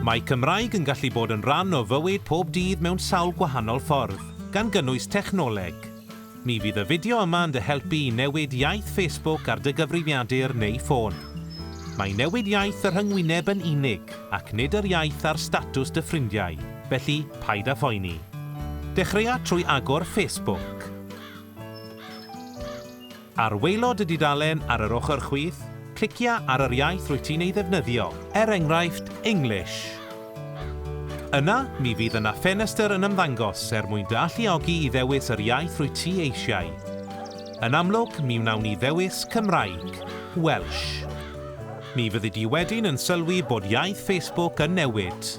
Mae Cymraeg yn gallu bod yn rhan o fywyd pob dydd mewn sawl gwahanol ffordd, gan gynnwys technoleg. Mi fydd y fideo yma yn dy helpu i newid iaith Facebook ar dy gyfrifiadur neu ffôn. Mae newid iaith y rhyngwyneb yn unig, ac nid yr iaith ar statws dy ffrindiau, felly paid â phoeni. Dechreuai trwy agor Facebook. Ar waelod y dudalen ar yr ochr chwith, clicia ar yr iaith rwyt ti'n ei ddefnyddio, er enghraifft, English. Yna, mi fydd yna ffenestr yn ymddangos er mwyn dy alluogi i ddewis yr iaith rwyt ti eisiau. Yn amlwg, mi wnawn ni ddewis Cymraeg, Welsh. Mi fyddi di wedyn yn sylwi bod iaith Facebook yn newid.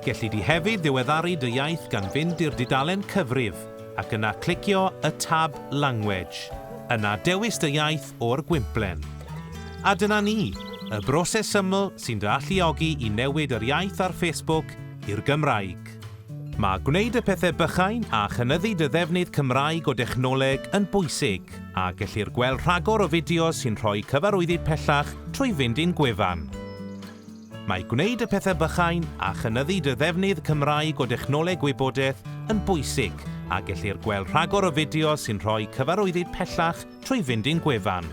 Gelli di hefyd ddiweddaru dy iaith gan fynd i'r dudalen cyfrif, ac yna clicio y tab Language, yna dewis dy iaith o'r gwymplen. A dyna ni, y broses syml sy'n dy alluogi i newid yr iaith ar Facebook i'r Gymraeg. Mae gwneud y pethau bychain a chynyddu dy ddefnydd Cymraeg o dechnoleg yn bwysig, a gellir gweld rhagor o fideos sy'n rhoi cyfarwyddyd pellach trwy fynd i'n gwefan. Mae gwneud y pethau bychain a chynyddu dy ddefnydd Cymraeg o dechnoleg gwybodaeth yn bwysig a gellir gweld rhagor o fideos sy'n rhoi cyfarwyddyd pellach trwy fynd i'n gwefan.